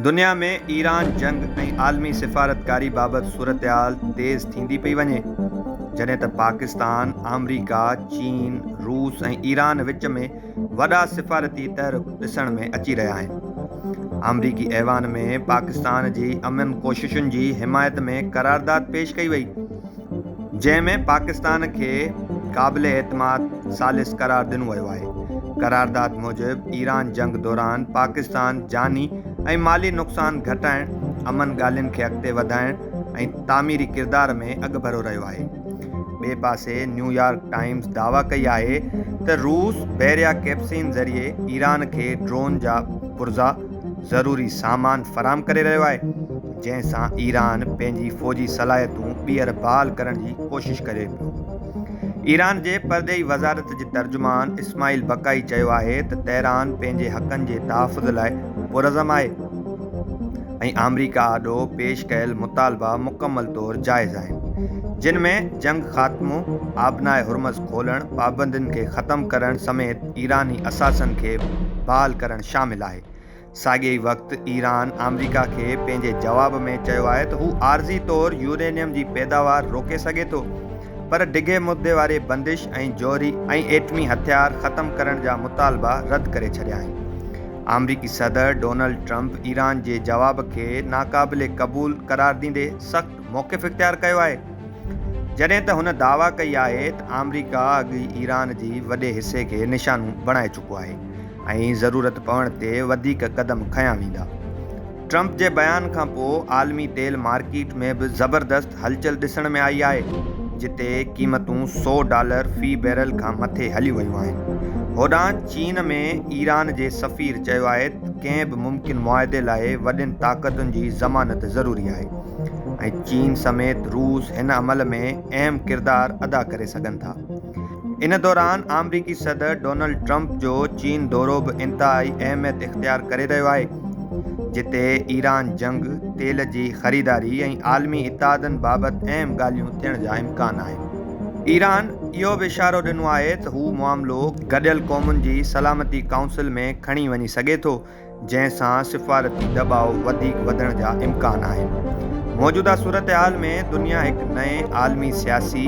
دنيا ۾ ايران جنگ ۽ عالمي سفارتڪاري بابت صورتحال تيز ٿيندي پئي وڃي، جڏهن ته پاڪستان، آمريڪا، چين، روس ۽ ايران وچ ۾ وڏا سفارتي تحرڪ ڏسڻ ۾ اچي رهيا آهن. آمريڪي ايوان ۾ پاڪستان جي امن ڪوششن جي حمايت ۾ قرارداد پيش ڪئي وئي. جنهن ۾ پاڪستان کي قابل اعتماد ثالث قرار ڏنو ويو آهي. قرارداد موجب ايران جنگ دوران پاڪستان جاني ۽ مالي نقصان گهٽائڻ، امن ڳالهين کي اڳتي وڌائڻ ۽ تعميري ڪردار ۾ اڳڀرو رهيو آهي. ٻئي پاسي نيويارڪ ٽائيمز دعويٰ ڪئي آهي ته روس بحريا ڪيپسين ذريعي ايران کي ڊرون جا پرزا ضروري سامان فراهم ڪري رهيو آهي. جنهن سان ايران پنهنجي فوجي صلاحيتون ٻيهر بحال ڪرڻ جي ڪوشش ڪري پيو. ايران جي پرڏيهي وزارت جي ترجمان اسماعيل بقائي چيو آهي ته تهران پنهنجي حقن جي تحفظ لاء پرعزم آهي ۽ آمريڪا آڏو پيش ڪيل مطالبا مڪمل طور جائز آهن جن ۾ جنگ خاتمو، آبناء هرمز کولڻ، پابندين کي ختم ڪرڻ سميت ايراني اثاثن کي بحال ڪرڻ شامل آهي. ساڳئي ئي وقت ايران آمريڪا کي پنهنجي جواب ۾ چيو آهي ته هو عارضي طور يورينيم جي پيداوار روڪي سگهي ٿو پر ڊگهي مدي واري بندش ۽ جوهري ۽ ايٽمي هٿيار ختم ڪرڻ جا مطالبا رد ڪري ڇڏيا آهن. آمريڪي صدر ڊونلڊ ٽرمپ ايران جي جواب کي ناقابل قبول قرار ڏيندي سخت موقف اختيار ڪيو آهي جڏهن ته هن دعويٰ ڪئي آهي ته آمريڪا اڳ ئي ايران جي وڏي حصي کي نشانو بڻائي چڪو آهي. ۽ ضرورت پوڻ تي وڌيڪ قدم کنيا ويندا. ٽرمپ جي بيان کانپوء عالمي تيل مارڪيٽ ۾ به زبردست هلچل ڏسڻ ۾ آئي آهي، جتي قيمتون سؤ ڊالر في بيرل کان مٿي هليون ويون آهن. هوڏانهن چين ۾ ايران جي سفير چيو آهي ته ڪنهن به ممڪن معاهدي لاء وڏين طاقتن جي ضمانت ضروري آهي ۽ چين سميت روس هن عمل ۾ اهم ڪردار ادا ڪري سگهن ٿا. ان دوران آمريڪي صدر ڊونلڊ ٽرمپ جو چين دورو به انتهائي اهميت اختيار ڪري رهيو آهي، جتي ايران جنگ، تيل جي خريداري ۽ عالمي اتحادن بابت اهم ڳالهيون ٿيڻ جا امڪان آهن. ايران اهو به اشارو ڏنو آهي ته هو معاملو گڏيل قومن جي سلامتي ڪائونسل ۾ کڻي وڃي سگهي ٿو. جنهن سان سفارتي دٻاء وڌيڪ وڌڻ جا امڪان آهن. موجوده صورتحال ۾ دنيا هڪ نئين عالمي سياسي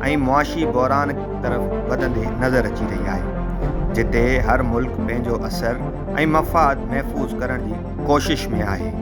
۽ معاشي بحران طرف وڌندي نظر اچي رهي آهي، جتي هر ملڪ پنهنجو اثر ۽ مفاد محفوظ ڪرڻ جي ڪوشش ۾ آهي.